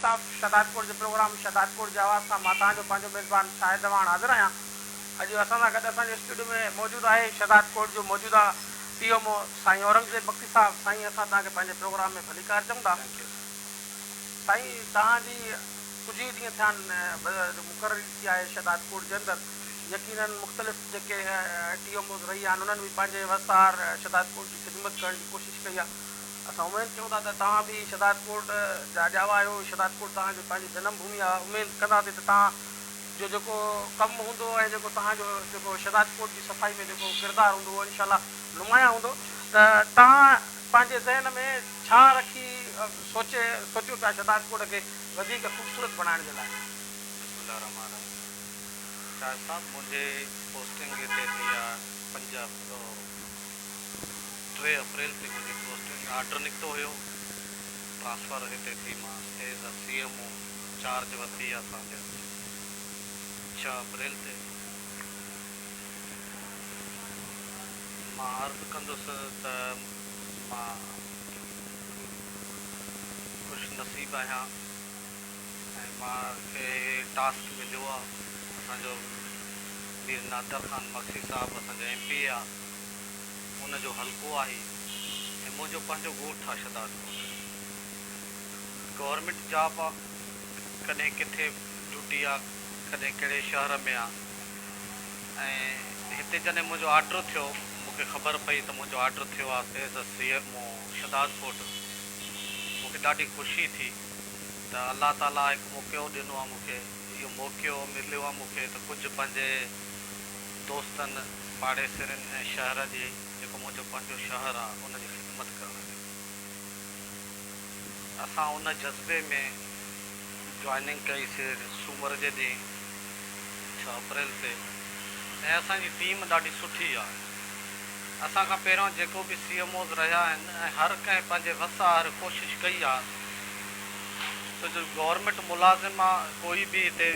صاف شهدادپور جو پروگرام شهدادپور جي آواز سان مان توهان جو پنهنجو ميزبان شاهد دواڻ حاضر آهيان اڄ اسان سان گڏ اسان جي اسٽوڊيو ۾ موجود آهي شهدادپور جو موجوده پي ايم او سائين اورنگزيب بگٽي صاحب سائين اسان توهان کي پنهنجي پروگرام ۾ ڀليڪار چئون ٿا ٿينڪ يو سر سائين توهان جي ڪجهه ئي ڏينهن ٿيا آهن جو مقرري ٿي آهي شهدادپور جي اندر يقيناً مختلف جيڪي ٽي ايم اوز رهي آهن انهن به پنهنجي وسار شهدادپور جي خدمت ڪرڻ جي ڪوشش ڪئي آهي اسان اميد ڪيون ٿا ته توهان به شھداد ڪوٽ جا ڄاوا آھيو شھداد ڪوٽ توهان جي پنهنجي جنم ڀومي آ اميد ڪنداسين ته توهان جو جيڪو ڪم هوندو ۽ جيڪو توهان جو جيڪو شھداد ڪوٽ جي صفائي ۾ جيڪو ڪردار هوندو اهو انشاء الله نمايان هوندو ته توهان پنهنجي ذهن ۾ ڇا رکي سوچي سوچيو پيا شھداد ڪوٽ کي وڌيڪ خوبصورت بڻائڻ جي لاء. بسم الله الرحمٰن الرحيم شاهد صاحب منهنجي پوسٽنگ هتي ٿي آ پنجاب ٽي اپريل تي منهنجي پوسٽنگ آرڊر نڪتو هيو، ٽرانسفر هتي ٿي مانس as a C M O charge ورتي آ سان گڏ ڇهه اپريل تي مان عرض ڪندس ته مان خوش نصيب آهيان. ۽ مان کي هي ٽاسڪ مليو آ اسان جو مير نادر خان مگسي صاحب اسان جو ايم پي اي آ ان جو حلقو آ هي ۽ منهنجو پنهنجو ڳوٺ آ شھداد ڳوٺ گورنمينٽ جاب آ ڪڏهن ڪٿي ڊيوٽي آ ڪڏهن ڪهڙي شهر ۾ آ ۽ هتي جڏهن منهنجو آرڊر ٿيو مون کي خبر پئي ته منهنجو آرڊر ٿيو آ as a C M O Shahdad ڳوٺ مون کي ڏاڍي خوشي ٿي. ته الله تعاليٰ هڪ موقعو ڏنو آ مون کي اهو موقعو مليو آ مون کي ته ڪجهه پنهنجي دوستن پاڙيسرين ۽ شهر جي جيڪو منهنجو پنهنجو شهر آ ان جي خدمت ڪرڻ جي اسان ان جذبي ۾ جوائننگ ڪئي سي سومر جي ڏينهن ڇهه اپريل تي ۽ اسان جي ٽيم ڏاڍي سٺي آ. اسان کان پهريان جيڪو به سي ايم اوز رهيا آهن ۽ هر ڪنهن پنهنجي وس آهر ڪوشش ڪئي آهي ته جو گورنمينٽ ملازم آ ڪوئي به هتي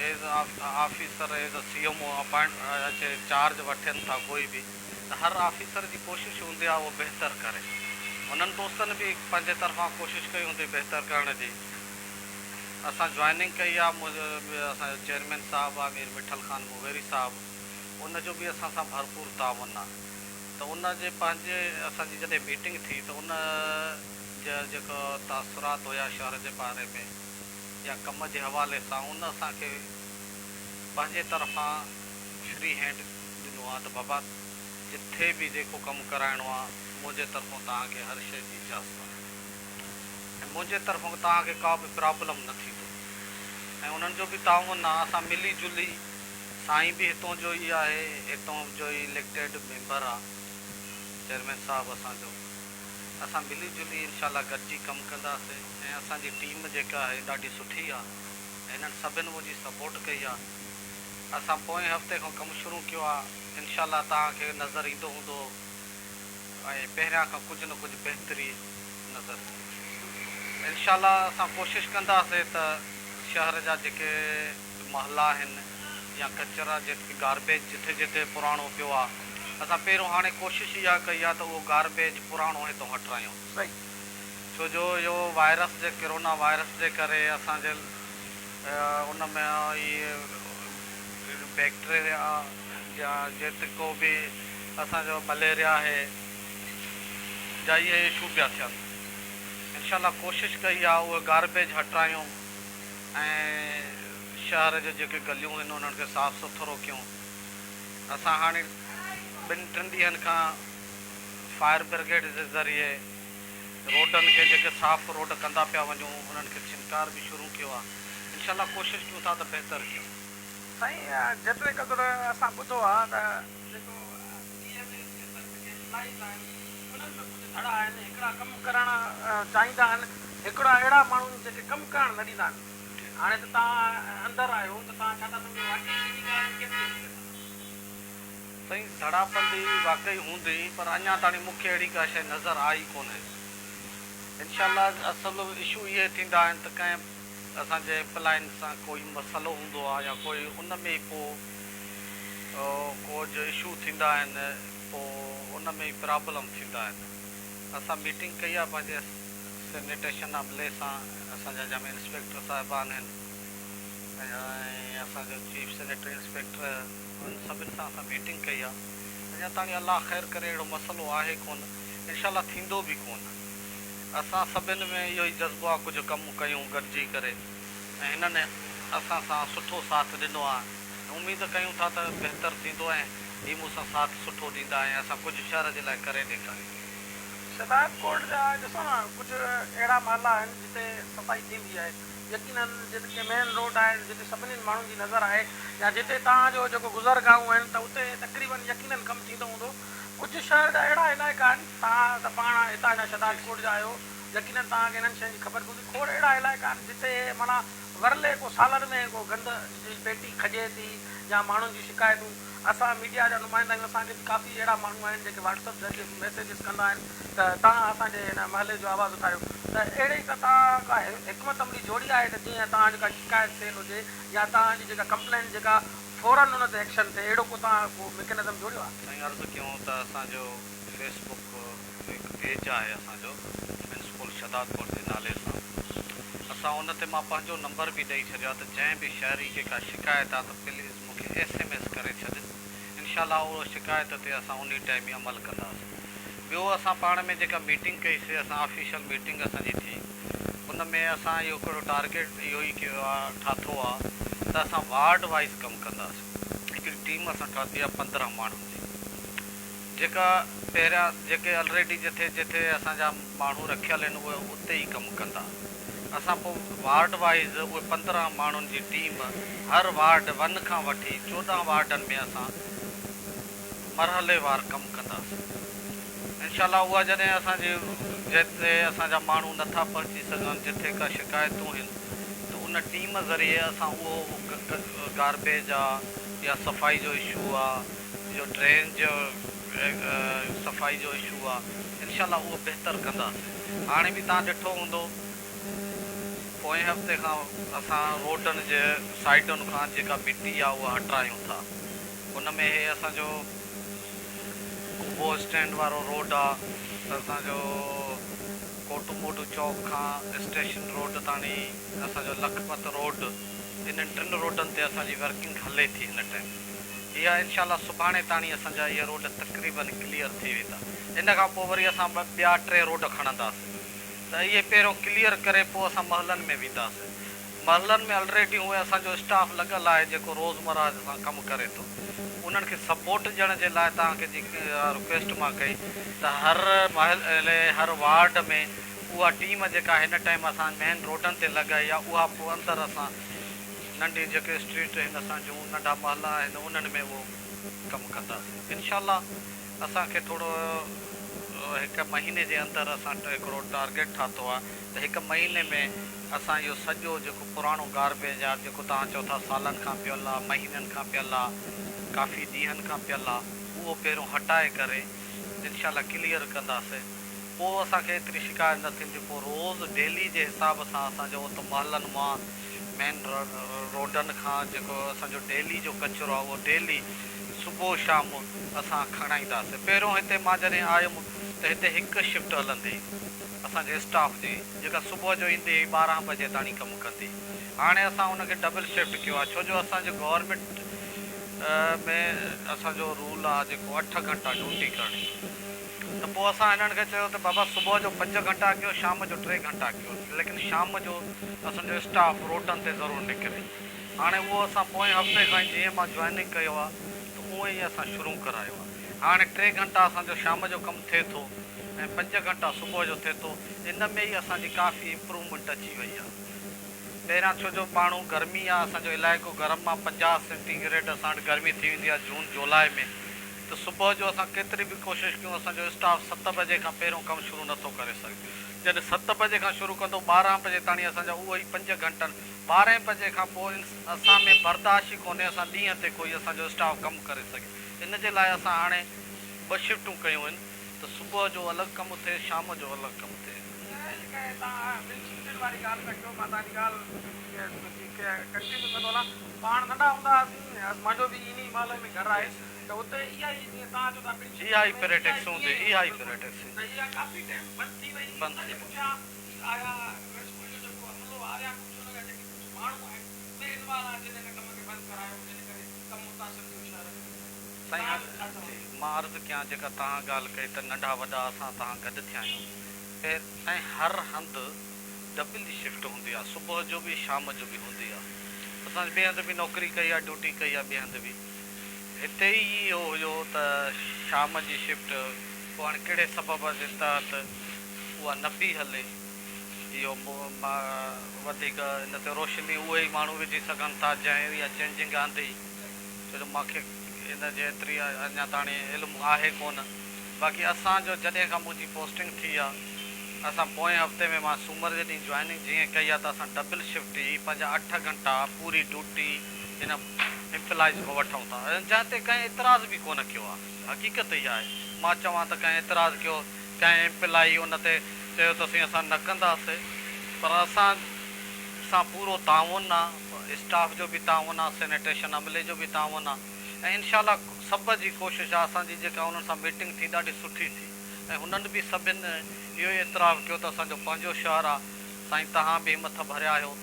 as a officer as a C M O appoint اچي چارج وٺين ٿا ڪوئي به ته هر آفيسر جي ڪوشش هوندي آ اهو بهتر ڪري هنن دوستن به پنهنجي طرفان ڪوشش ڪئي هوندي بهتر ڪرڻ جي اسان جوائننگ ڪئي آ اسان جو چيئرمين صاحب آ مير مٺل خان موغيري صاحب. ان جو به اسان سان ڀرپور تعاون آ ته ان جي پنهنجي اسان جي جڏهن ميٽنگ ٿي ته ان جا جيڪا تاثرات هيا شهر جي باري ۾ يا ڪم جي حوالي سان ان اسان کي پنهنجي طرفان فري هينڊ ڏنو آ ته بابا جتي به جيڪو ڪم ڪرائڻو آ منهنجي طرفون توهان کي هر شئي جي اجازت آ ۽ منهنجي طرفون توهان کي ڪا به پرابلم نه ٿيندو ۽ انهن جو به تعاون آ اسان ملي جلي سائين به هتون جو ئي آهي، هتون جو ئي اليڪٽيڊ ميمبر آ چيئرمين صاحب اسان جو. اسان ملي جلي انشاء الله گڏجي ڪم ڪنداسين ۽ اسان جي ٽيم جيڪا آهي ڏاڍي سٺي آ هنن سڀن منهنجي سپورٽ ڪئي آ. اسان پوئين هفتي کان ڪم شروع ڪيو آ انشاء الله توهان کي نظر ايندو هوندو ۽ پهريان کان ڪجهه نه ڪجهه بهتري نظر ايندي. انشاء الله اسان ڪوشش ڪنداسين ته شهر جا جيڪي. محلا آهن يا ڪچرا جيڪي گاربيج جتي جتي پراڻو پيو آ اسان پهريون هاڻي ڪوشش اها ڪئي آ ته اهو گاربيج پراڻو هتو هٽرايون ڇو جو اهو وائرس جي ڪرونا وائرس جي ڪري اسان جي ان ۾ اهي بيڪٽريا جا جيتڪو به اسان جو مليريا آهي جا اهي اشو پيا ٿين انشاء الله ڪوشش ڪئي آ اهو گاربيج هٽرايون. ۽ شهر جون جيڪي گليون هن انهن کي صاف سٿرو ڪيون اسان هاڻي ٻن ٽن ڏينهن کان فائر برگيڊ جي ذريعي روڊن کي جيڪي صاف روڊ ڪندا پيا وڃون انهن کي ڇنڪار به شروع ڪيو آهي انشاء الله ڪوشش ڪيون ٿا ته بهتر ڪيون. سائين جيتري قدر اسان ٻڌو آهي ته. جيڪو ڊي ايم اي جي سرڪ کي ملائيندا آهن، انهن ۾ ڪجهه ڌڙا آهن، هڪڙا ڪم ڪرڻ چاهيندا آهن، هڪڙا اهڙا ماڻهو آهن جيڪي ڪم ڪرڻ نه ڏيندا آهن. هاڻي ته توهان اندر آهيو ته توهان ڇا ٿا سمجهو واقعي انهي ڳالهه ۾ ڪيتري حقيقت آهي؟ سائين ڌڙا بندي واقعي هوندي پر اڃا تاڻي مون کي اهڙي ڪا شيء نظر آئي ئي ڪونه. انشاء الله اصل اشو اهي ٿيندا آهن ته ڪنهن اسان جي ايمپلائين سان ڪوئي مسئلو هوندو آهي يا ڪوئي ان ۾ ڪو ڪوج اشو ٿيندا آهن پو ان ۾ ئي پرابلم ٿيندا آهن اسان ميٽنگ ڪئي آهي پنهنجي سينيٽيشن عملي سان اسان جا جمع انسپيڪٽر صاحبان آهن ۽ اسان جو چيف سينيٽري انسپيڪٽر انهن سڀن سان اسان ميٽنگ ڪئي آهي اڃا تاڻي الله خير ڪري اهڙو مسئلو آهي ڪون انشاء الله ٿيندو به ڪون اسان سڀن ۾ اهو ئي جذبو آهي ڪجهه ڪم ڪيون گڏجي ڪري. ۽ هنن اسان سان سٺو ساٿ ڏنو آهي ۽ اميد ڪيون ٿا ته بهتر ٿيندو ۽ هي مون سان ساٿ سٺو ڏيندا ۽ اسان ڪجهه شهر جي لاء ڪري ڏيکارينداسين. شدائت ڪورٽ جا ڏسو نه ڪجهه اهڙا محلا آهن جتي صفائي ٿيندي آهي يقيناً جتي ڪي مين روڊ آهن جتي سڀني ماڻهن جي نظر آهي يا جتي توهان جو جيڪو گذر گاهون آهن ته اتي تقريباً يقيناً ڪم ٿيندو هوندو ڪجهه شهر جا اهڙا علائقا آهن توهان ته پاڻ هتان جا شدائت ڪورٽ جا آهيو يقينن توهان کي انهن شين جي خبر به هوندي کوڙ اهڙا علائقا آهن جتي معنيٰ ورلي ڪو سالن ۾ ڪو گند جي پيٽي کڄي ٿي يا ماڻهن جون شڪايتون اسان ميڊيا جا نمائندا آهيون اسان کي به ڪافي اهڙا ماڻهو آهن جيڪي واٽس اپ ذريعي به ميسيجز ڪندا آهن ته توهان اسان جي هن محلي جو آواز اٿاريو ته اهڙي هڪ توهان ڪا حڪمت عملي جوڙي آهي ته جيئن توهان جي ڪا شڪايت سيل هجي يا توهان جي جيڪا ڪمپلينٽ جيڪا فورن ان تي ايڪشن ٿئي اهڙو ڪو توهان ڪو مڪينزم جوڙيو آهي. سائين عرض ڪيون ته اسان جو فيس بڪ. اهو هڪ پيج آهي اسان جو ڪمين اسڪول شهدادپور جي نالي سان اسان ان تي مان پنهنجو نمبر به ڏئي ڇڏيو آهي ته جنهن به شهري کي ڪا شڪايت آهي ته پليز مون کي ايس ايم ايس ڪري ڇڏ انشاء الله اهو شڪايت تي اسان انهي ٽائيم ئي عمل ڪنداسين ٻيو اسان پاڻ ۾ جيڪا ميٽنگ ڪئي سي اسان آفيشل ميٽنگ اسان جي ٿي ان ۾ اسان اهو هڪڙو ٽارگيٽ اهو ئي ڪيو آهي ٺاٿو آهي ته اسان وارڊ وائيز ڪم ڪنداسين هڪڙي ٽيم اسان ٺاٿي آهي پندرهن ماڻهن جي. جيڪا پهريان جيڪي الريڊي جٿي جيٿي اسان جا ماڻهو رکيل هن اهي اتي ئي ڪم ڪندا اسان پو وارڊ وائيز اهي پندرهن ماڻهن جي ٽيم هر وارڊ ون کان وٺي چوڏهن وارڊن ۾ اسان مرحلي وار ڪم ڪنداسين انشاء الله اها جڏهن اسان جي جيتي اسان جا ماڻهو نٿا پهچي سگهن جٿي ڪا شڪايتون هن ته ان ٽيم ذريعي اسان اهو گاربيج آ يا صفائي جو اشو آ. جو ڊرين جو صفائي جو اشو آ انشاء الله اهو بهتر ڪنداسين هاڻي به تان ڏٺو هوندو پوئين هفتي کان اسان روڊن جي سائيڊن کان جيڪا مٽي آ اها هٽرايون ٿا ان ۾ هي اسان جو ڪوبو اسٽينڊ وارو روڊ آ اسان جو ڪوٽو موٽو چوڪ کان اسٽيشن روڊ تاڻي اسان جو لکپت روڊ انهن ٽن روڊن تي اسان جي ورڪنگ هلي ٿي هن ٽائيم. اها انشاء الله سڀاڻي تاڻي اسان جا اهي روڊ تقريباً ڪليئر ٿي ويندا ان کان پوء وري اسان ٻه ٻيا ٽي روڊ کڻنداس ته اهي پهريون ڪليئر ڪري پوء اسان محلن ۾ وينداس محلن ۾ الريڊي هونئن اسان جو اسٽاف لڳل آهي جيڪو روزمره سان ڪم ڪري ٿو انهن کي سپورٽ ڏيڻ جي لاء توهان کي جي اها رڪويسٽ مان ڪئي ته هر محلي هر وارڊ ۾ اها ٽيم جيڪا هن ٽائيم اسان مين روڊن تي لڳائي آهي اها پوء اندر اسان ننڍي جيڪي اسٽريٽ آهن اسان جون ننڍا محلا آهن انهن ۾ اهو ڪم ڪنداسين انشاء الله اسان کي ٿورو هڪ مهيني جي اندر اسان هڪڙو ٽارگيٽ ٺاتو آ ته هڪ مهيني ۾ اسان اهو سڄو جيڪو پراڻو گاربيج آ جيڪو توهان چئو ٿا سالن کان پيل آ مهينن کان پيل آ ڪافي ڏينهن کان پيل آ اهو پهريون هٽائي ڪري انشاء الله ڪليئر ڪنداسين پوء اسان کي ايتري شڪايت نه ٿيندي پوء روز ڊيلي جي حساب سان اسان جو اهو ته محلن مان مين روڊن کان جيڪو اسان جو ڊيلي جو ڪچرو آهي اهو ڊيلي صبح شام اسان کڻائينداسين پهريون هتي مان جڏهن آيم ته هتي هڪ شفٽ هلندي اسان جي اسٽاف جي جيڪا صبح جو ايندي هئي ٻارهن بجي تاڻي ڪم ڪندي هاڻي اسان ان کي ڊبل شفٽ ڪيو آهي ڇو جو اسان جي گورنمينٽ ۾ اسان جو رول آهي جيڪو اٺ گهنٽا ڊيوٽي ڪرڻي. ته پوء اسان هنن کي چيو ته بابا صبح جو پنج گهنٽا ڪيو شام جو ٽي گهنٽا ڪيو ليڪن شام جو اسان جو اسٽاف روڊن تي ضرور نڪري هاڻي اهو اسان پوئين هفتي کان ئي جيئن مان جوائننگ ڪيو آ ته اونئين ئي اسان شروع ڪرايو آ هاڻي ٽي گهنٽا اسان جو شام جو ڪم ٿئي ٿو ۽ پنج گهنٽا صبح جو ٿئي ٿو ان ۾ ئي اسان جي ڪافي امپروومينٽ اچي وئي آ پهريان ڇو جو پاڻهون گرمي آ اسان جو علائقو گرم آ پنجاهه سينٽي گريڊ اسان وٽ گرمي ٿي ويندي آ جون جولاء ۾ ته صبح جو اسان ڪيتري به ڪوشش ڪيون اسان جو اسٽاف ست بجي کان پهريون ڪم شروع نه ٿو ڪري سگهي جڏهن ست بجي کان شروع ڪندو ٻارهن بجي تاڻي اسان جا اهي ئي پنج گهنٽن ٻارهين بجي کان پوء اسان ۾ برداشت ئي ڪونهي اسان ڏينهن تي ڪوئي اسان جو اسٽاف ڪم ڪري سگهي ان جي لاء اسان هاڻي ٻه شفٽون ڪيون آهن ته صبح جو الڳ ڪم ٿئي شام جو الڳ ڪم ٿئي. سائين جيڪا هي تان آ ٻن شفٽن واري ڳالهه پيا ڪيو مان تانجي ڳالهه جي ڪنٽينيو ڪندو هلان پاڻ ننڍا هوندا هئاسين مانجو به ان ئي محلي ۾ گهر آهي هي هائپريٽڪس هوندي هي هائپريٽڪس بند ٿي سائين هاڻي جي مان عرض ڪيان جيڪا تهان ڳالهه ڪئي ته ننڍا وڏا اسان تهان گڏ ٿيا آهيون خير سائين هر هنڌ ڊبل شفٽ هوندي آهي صبح جو به شام جو به هوندي آهي اسان ٻئي هنڌ به نوڪري ڪئي آهي ڊيوٽي ڪئي آهي ٻئي هنڌ به هتي ئي اهو هيو ته شام جي شفٽ پوء هاڻي ڪهڙي سبب جي تحت اها نه پي هلي، اهو وڌيڪ ان تي روشني اهي ئي ماڻهو وجهي سگهن ٿا جنهن اها چينجنگ آندي، ڇو جو مون کي ان جي ايتري اڃا تاڻي علم آهي ڪونه، باقي اسان جو جڏهن کان منهنجي پوسٽنگ ٿي آهي، اسان پوئين هفتي ۾ مان سومر جي ڏينهن جوائننگ جيئن ڪئي آهي ته اسان ڊبل شفٽ ئي پنهنجا اٺ گهنٽا پوري ڊيوٽي ان امپلائيز کان وٺون ٿا جنهن تي ڪنهن اعتراض به ڪونه ڪيو آهي حقيقت اها آهي مان چوان ته ڪنهن اعتراض ڪيو ڪنهن امپلائي ان تي چيو ته سائين اسان نه ڪنداسي پر اسان سان پورو تعاون آهي اسٽاف جو به تعاون آهي سينيٽيشن عملي جو به تعاون آهي ۽ انشاء الله سڀ جي ڪوشش آهي اسان جي جيڪا انهن سان ميٽنگ ٿي ڏاڍي سٺي ٿي ۽ هنن به سڀن اهو اعتراف ڪيو ته اسان جو پنهنجو شهر آهي سائين توهان به همٿ ڀريا آهيو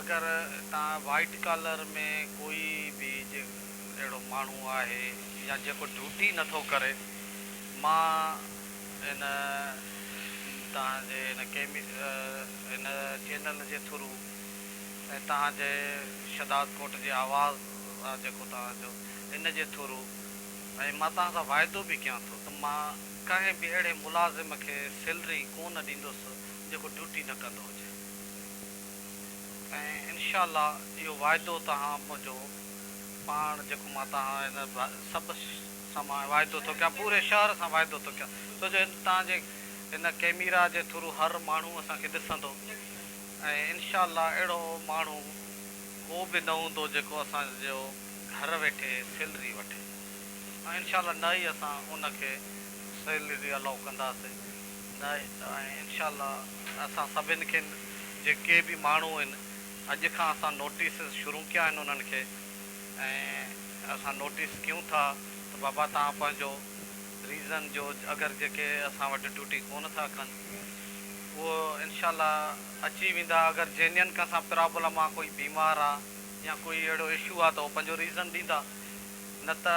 اگر تان وائيٽ ڪالر ۾ ڪوئي به اهڙو ماڻهو آهي يا جيڪو ڊيوٽي نٿو ڪري مان هن تان جي هن ڪيمي هن چينل جي ٿرو ۽ تان جي شداد ڪوٽ جي آواز آ جيڪو تان جو ان جي ٿرو ۽ مان تان سان وعدو به ڪيان ٿو ته مان ڪنهن به اهڙي ملازم کي سيلري ڪونه ڏيندس جيڪو ڊيوٽي نه ڪندو هجي. ۽ انشاء الله اهو واعدو توهان منهنجو پاڻ جيڪو مان توهان هن سڀ سان مان واعدو ٿو ڪيان پوري شهر سان واعدو ٿو ڪيان ڇو جو هن توهان جي هن ڪيميرا جي ٿرو هر ماڻهو اسان کي ڏسندو ۽ انشاء الله اهڙو ماڻهو ڪو به نه هوندو جيڪو اسان جو گهر ويٺي سيلري وٺي ۽ انشاء الله نه ئي اسان ان کي سيلري الاء ڪنداسين. نه ۽ انشاء الله اسان سڀن کي جيڪي به ماڻهو آهن اڄ کان اسان نوٽيسز شروع ڪيا آهن انهن کي ۽ اسان نوٽيس ڪيون ٿا ته بابا توهان پنهنجو ريزن جو اگر جيڪي اسان وٽ ڊيوٽي ڪونه ٿا ڪن اهو انشاء الله اچي ويندا اگر جينين ڪنهن سان پرابلم آهي ڪوئي بيمار آهي يا ڪوئي اهڙو اشو آهي ته اهو پنهنجو ريزن ڏيندا نه ته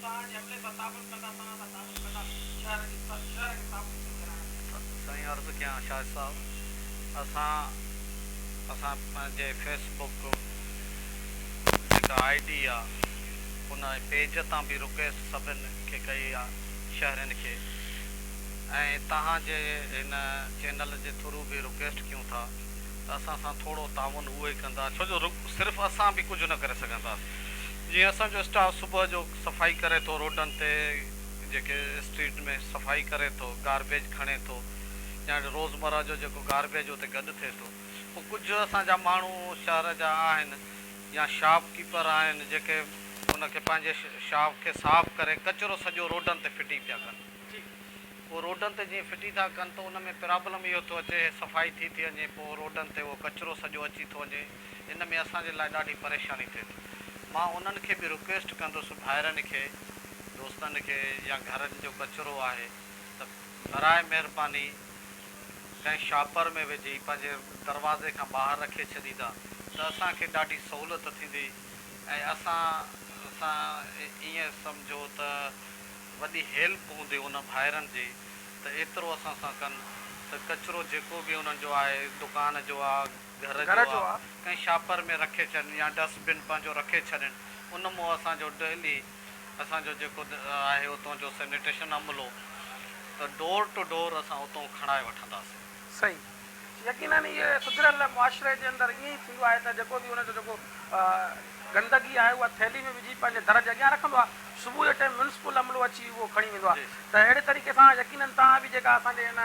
سان جملي سان تعامل ڪندا توهان سان تعارف ڪندا شهر جي شهر کي صاف سٿرو ڪرائڻ ۾. سائين عرض ڪيان شاهد صاحب اسان اسان پنهنجي فيس بڪ جيڪا آئي ڊي آ ان پيج تان به رڪويسٽ سڀن کي ڪئي آ شهرين کي ۽ توهان جي هن چينل جي ٿرو به رڪويسٽ ڪيون ٿا ته اسان سان ٿورو تعاون اهو ئي ڪندا ڇو جو صرف اسان به ڪجهه نه ڪري سگهنداسين جيئن اسان جو اسٽاف صبح جو صفائي ڪري ٿو روڊن تي جيڪي اسٽريٽ ۾ صفائي ڪري ٿو گاربيج کڻي ٿو يا روزمره جو جيڪو گاربيج اتي گڏ ٿئي ٿو پوء ڪجهه اسان جا ماڻهو شهر جا آهن يا شاپ ڪيپر آهن جيڪي ان کي پنهنجي شاپ کي صاف ڪري ڪچرو سڄو روڊن تي ڦٽي پيا ڪن پوء روڊن تي جيئن ڦٽي ٿا ڪن ته ان ۾ پرابلم اهو ٿو اچي صفائي ٿي ٿي وڃي پوء روڊن تي اهو ڪچرو سڄو اچي ٿو وڃي ان ۾ اسان جي لاء ڏاڍي پريشاني ٿئي ٿي. مان انهن کي به رڪويسٽ ڪندس ڀائرن کي، دوستن کي يا گهرن جو ڪچرو آهي ته براهه مهرباني ڪنهن شاپر ۾ وجهي پنهنجي دروازي کان ٻاهر رکي ڇڏيندا ته اسان کي ڏاڍي سهولت ٿيندي ۽ اسان سان ائين سمجهو ته وڏي هيلپ هوندي انهن ڀائرن جي ته ايترو اسان سان ڪن ته ڪچرو جيڪو به انهن جو آهي دڪان جو آ، گهر جو آ ڪنهن شاپر ۾ رکي ڇڏين يا ڊسٽ بن پنهنجو رکي ڇڏين ان مون اسان جو ڊهلي اسان جو جيڪو آهي اتون جو سينيٽيشن عملو ته ڊور ٽو ڊور اسان اتون کڻائي وٺنداسين. صحيح يقينن اهي سڌريل معاشري جي اندر ائين ئي ٿيندو آهي ته جيڪو به ان جو جيڪو گندگي آهي اها ٿيلهي ۾ وجهي پنهنجي در جي اڳيان رکندو آهي صبح جي ٽيم ميونسپل عملو اچي اهو کڻي ويندو آهي ته اهڙي طريقي سان يقينن توهان به جيڪا اسان جي ان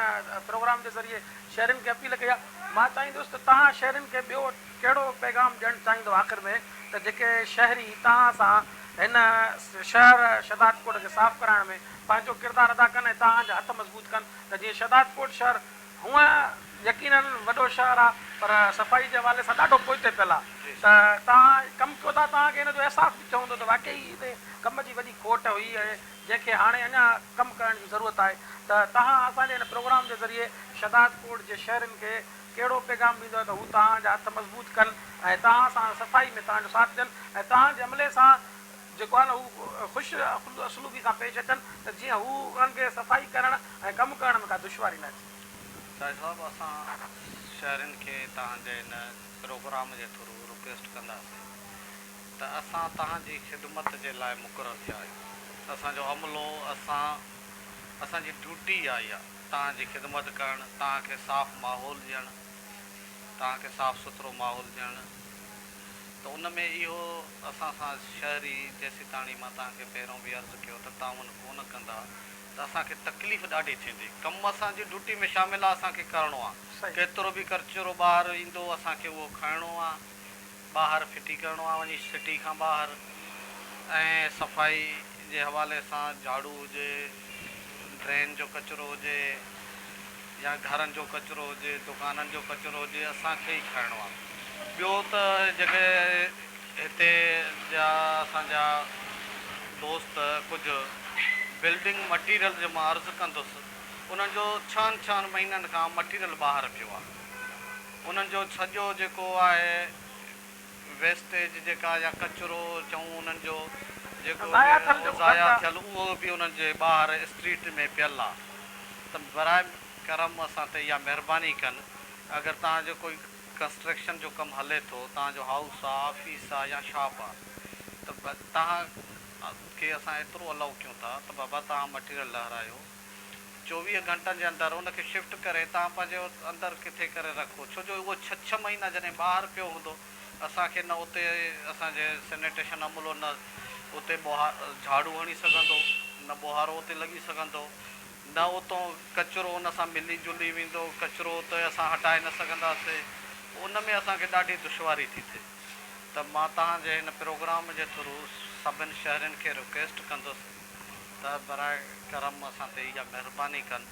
پروگرام جي ذريعي شهرين کي اپيل ڪئي آهي. مان چاهيندس ته توهان شهرين کي ٻيو ڪهڙو پيغام ڏيڻ چاهيندو آخر ۾ ته جيڪي شهري توهان سان هن شهر شهدادڪوٽ کي صاف ڪرائڻ ۾ پنهنجو ڪردار ادا ڪن ۽ توهان جا هٿ مضبوط ڪن ته جيئن شهدادڪوٽ شهر هونئن يقينن وڏو شهر آهي پر صفائي جي حوالي سان ڏاڍو پوئتي پيل آهي ته توهان ڪم ڪيو ٿا توهان کي ان جو احساس به ٿيو هوندو ته واقعي هتي ڪم جي وڏي کوٽ هئي ۽ جنهن کي هاڻي اڃا ڪم ڪرڻ جي ضرورت آهي ته توهان اسان جي هن پروگرام جي ذريعي شهداد ڪوٽ جي شهرين کي ڪهڙو پيغام ڏيندؤ ته هو توهان جا هٿ مضبوط ڪن ۽ توهان سان صفائي ۾ توهان جو ساٿ ڏين ۽ توهان جي عملي سان جيڪو آهي نه هو خوش اسلوبي سان پيش اچن ته جيئن هو انهن کي صفائي ڪرڻ ۽ ڪم ڪرڻ ۾ ڪا دشواري نه اچي. سائين صاحب اسان شهرين کي توهان جي هن پروگرام جي ٿرو رڪويسٽ ڪنداسين ته اسان توهان جي خدمت جي لاء مقرر ٿيا آهيون. اسان جو عملو، اسان، اسان جي ڊيوٽي ئي اهائي آهي، توهان جي خدمت ڪرڻ، توهان کي صاف ماحول ڏيڻ، توهان کي صاف سٿرو ماحول ڏيڻ، ته ان ۾ اهو اسان سان شهري، جيسيتاڻي مان توهان کي پهريون به عرض ڪيو ته تعاون ڪونه ڪندا ته اسان کي تڪليف ڏاڍي ٿيندي. ڪم اسان جي ڊيوٽي ۾ شامل آهي، اسان کي ڪرڻو آهي. ڪيترو به ڪچرو ٻاهر ايندو، اسان کي اهو کڻڻو آهي. ٻاهر ڦٽي ڪرڻو آهي وڃي سٽي کان ٻاهر ۽ صفائي جي حوالي سان جهاڙو هجي ڊرين جو ڪچرو هجي يا گهرن جو ڪچرو هجي دڪانن جو ڪچرو هجي اسان کي ئي کڻڻو آهي ٻيو ته جيڪي هتي جا اسان جا دوست ڪجهه بلڊنگ مٽيريل جو مان عرض ڪندس انهن جو ڇهن ڇهن مهينن کان مٽيريل ٻاهر پيو آهي. انهن جو سڄو جيڪو آهي ويسٽيج جيڪا يا ڪچرو چئون انهن جو جيڪو به ضايع ٿيل اهو به انهن جي ٻاهر اسٽريٽ ۾ پيل آ ته براء ڪرم اسان تي اها مهرباني ڪن اگر توهان جو ڪوئي ڪنسٽرڪشن جو ڪم هلي ٿو توهان جو هائوس آ آفيس آ يا شاپ آ ته توهان کي اسان ايترو الائو ڪيون ٿا ته بابا توهان مٽيريل لهرايو چوويهه گهنٽن جي اندر ان کي شفٽ ڪري توهان پنهنجي اندر ڪٿي ڪري رکو ڇو جو اهو ڇهه ڇهه مهينا جڏهن ٻاهر پيو هوندو اسان کي نه اتي اسان جي سينيٽيشن عملو نه اتي ٻوهار جهاڙو هڻي سگهندو نه ٻوهارو اتي لڳي سگهندو نه اتون ڪچرو ان سان ملي جلي ويندو ڪچرو اتي اسان هٽائي نه سگهنداسي ان ۾ اسان کي ڏاڍي دشواري ٿي ٿئي ته مان توهان جي هن پروگرام جي ٿرو سڀن شهرين کي رڪويسٽ ڪندس ته براء ڪرم اسان تي اها مهرباني ڪن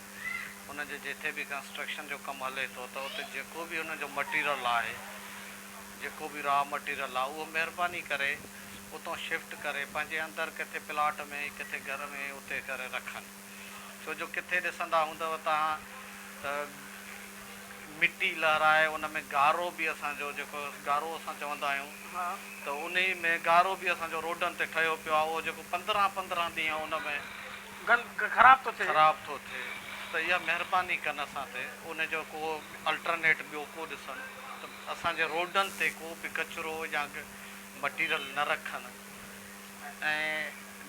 انهن جي جتي به ڪنسٽرڪشن جو ڪم هلي ٿو ته اتي جيڪو به انهن جو مٽيرل آهي جيڪو به را مٽيرل آهي اهو مهرباني ڪري اتان شفٽ ڪري پنهنجي اندر ڪٿي پلاٽ ۾ ڪٿي گهر ۾ اتي ڪري رکن ڇو جو ڪٿي ڏسندا هوندؤ توهان ته مٽي لهرائي ان ۾ گارو به اسان جو جيڪو گارو اسان چوندا آهيون ته انهي ۾ گارو به اسان جو روڊن تي ٺهيو پيو آهي اهو جيڪو پندرهن پندرهن ڏينهن ان ۾ خراب ٿو ٿئي خراب ٿو ٿئي ته اها مهرباني ڪن اسان تي ان جو ڪو الٽرنيٽ ٻيو ڪو ڏسن ته اسان جي روڊن تي ڪو به ڪچرو يا مٽيرل نه رکن. ۽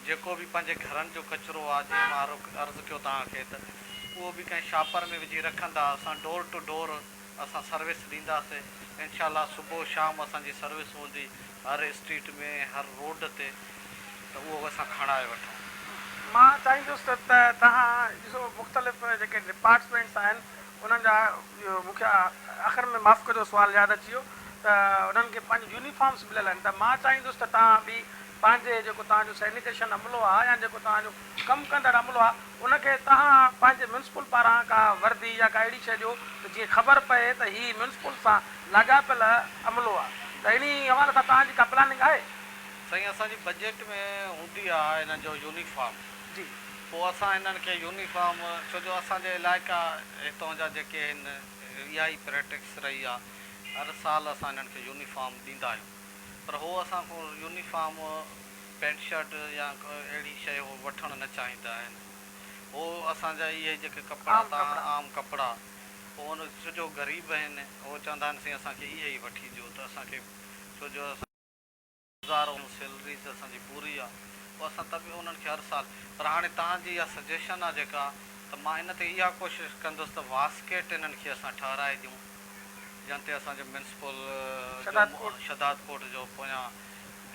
جيڪو به پنهنجي گهرن جو ڪچرو آ جيئن مان عرض ڪيو توهان کي ته اهو به ڪنهن شاپر ۾ وجهي رکندا اسان ڊور ٽو ڊور اسان سروس ڏينداسين انشاء الله صبح شام اسان جي سروس هوندي هر اسٽريٽ ۾ هر روڊ تي ته اهو اسان کڻائي وٺون. مان چاهيندس ته توهان ڏسو مختلف جيڪي ڊپارٽسمينٽس آهن انهن جا مون کي آخر ۾ معاف ڪجو سوال ياد اچي ويو ته انهن کي پنهنجي يونيفارمز مليل آهن ته مان چاهيندس ته توهان به پنهنجي جيڪو توهان جو سينيٽيشن عملو آهي يا جيڪو توهان جو ڪم ڪندڙ عملو آهي ان کي توهان پنهنجي ميونسپل پاران ڪا وردي يا ڪا اهڙي شيء ڏيو ته جيئن خبر پئي ته هي ميونسپل سان لاڳاپيل عملو آهي ته انهي حوالي سان توهان جي ڪا پلاننگ آهي؟ سائين اسان جي بجيٽ ۾ هوندي آهي انهن جو يونيفارم. جي پوء اسان هنن کي يونيفارم ڇو جو اسان جي علائقا هتون جا جيڪي آهن اها ئي پريٽڪس رهي آ هر سال اسان هنن کي يونيفارم ڏيندا آهيون پر هو اسان کون يونيفارم پينٽ شرٽ يا اهڙي شيء هو وٺڻ نه چاهيندا آهن هو اسان جا اهي جيڪي ڪپڙا تان عام ڪپڙا پوء هن ڇو جو غريب آهن هو چوندا آهن سائين اسان کي اهي ئي وٺي ڏيو ته اسان کي ڇو جو اسان گذارو ۽ سيلري ته اسان جي پوري آ پوء اسان ته به انهن کي هر سال پر هاڻي توهان جي اها سجيشن آ جيڪا ته مان ان تي اها ڪوشش ڪندس ته واسڪيٽ انهن کي اسان ٺهرائي ڏيون جن تي اسان جو ميونسپل جو شھداد ڪورٽ جو پويان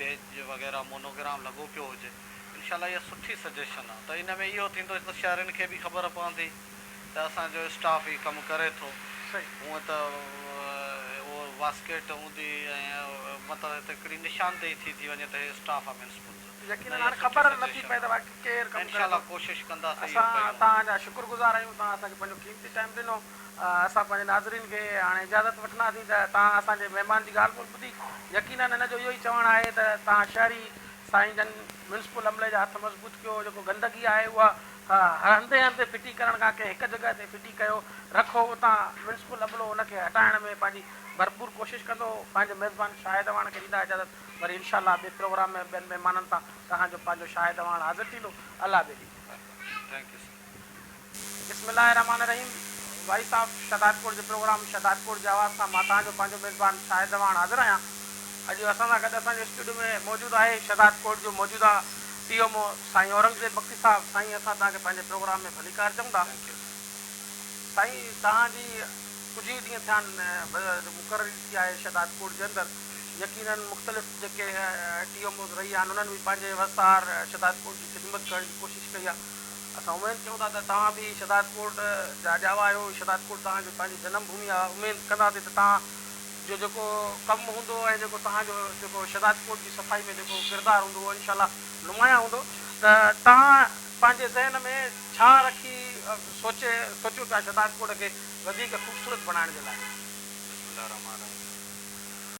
بيج وغيره مونوگرام لڳو پيو هجي انشاء الله اها سٺي سجيشن آ ته ان ۾ اهو ٿيندو هڪ ته شهرين کي به خبر پوندي. ته اسان جو اسٽاف هي ڪم ڪري ٿو. هونئن ته اهو واسڪيٽ اوندي ۽ مطلب هتي هڪڙي نشاندهي ٿي ٿي وڃي ته هي اسٽاف آ ميونسپل جو. يقينن هاڻ خبر نه ٿي پئي ته واقعي ڪير ڪم ڪري ٿو. اسان توهان جا شڪر گذار آهيون توهان اسان کي پنهنجو قيمتي ٽائيم ڏنو. اسان پنهنجي ناظرين کي هاڻي اجازت وٺنداسين ته توهان اسان جي مهمان جي ڳالهه ٻولهه ٻڌي. يقينن هن جو اهو ئي چوڻ آهي ته توهان شهري سائين جن ميونسپل عملي جا هٿ مضبوط ڪيو جيڪو گندگي آهي اها ها، هنڌي هنڌي ڦٽي ڪرڻ کان ڪنهن هڪ جڳهه تي ڦٽي ڪيو رکو، اتان ميونسپل عملو ان کي هٽائڻ ۾ پنهنجي ڀرپور ڪوشش ڪندو. پنهنجي ميزبان شاهد اعواڻ کي ڏيندا اجازت، وري انشاء الله ٻئي پروگرام ۾ ٻين مهمانن سان توهان جو پنهنجو شاهد اعواڻ حاضر ٿيندو. الله ٻيلي. Thank you sir. بسم الله الرحمٰن الرحيم وائس آف شهدادڪوٽ جي پروگرام شهدادڪوٽ جي آواز سان مان توهان جو پنهنجو ميزبان شاهد اعواڻ حاضر آهيان. اڄ اسان سان گڏ اسان جي اسٽوڊيو ۾ موجود آهي شهدادڪوٽ جو موجوده ٽي ايم او سائين اورنگزيب بگٽي صاحب سائين اسان توهان کي پنهنجي پروگرام ۾ ڀليڪار چئون ٿا سائين توهان جي ڪجهه ئي ڏينهن ٿيا آهن مقرري ٿي آهي شهداد ڪوٽ جي اندر يقيناً مختلف جيڪي ٽي ايم اوز رهي آهن انهن به پنهنجي وسار شهداد ڪوٽ جي خدمت ڪرڻ جي ڪوشش ڪئي آهي اسان اميد ڪيون ٿا ته توهان به شهداد ڪوٽ جا ڄاوا آهيو شهداد ڪوٽ توهان جي پنهنجي جنم ڀومي آهي اميد ڪنداسين ته توهان جو جيڪو ڪم هوندو ۽ جيڪو توهان جو جيڪو شهداد ڪوٽ جي صفائي ۾ جيڪو ڪردار هوندو اهو انشاء الله نمايان هوندو ته توهان پنهنجي ذهن ۾ ڇا رکي سوچي سوچيو پيا شهداد ڪوٽ کي وڌيڪ خوبصورت بڻائڻ جي لاء. بسم الله الرحمٰن الرحيم.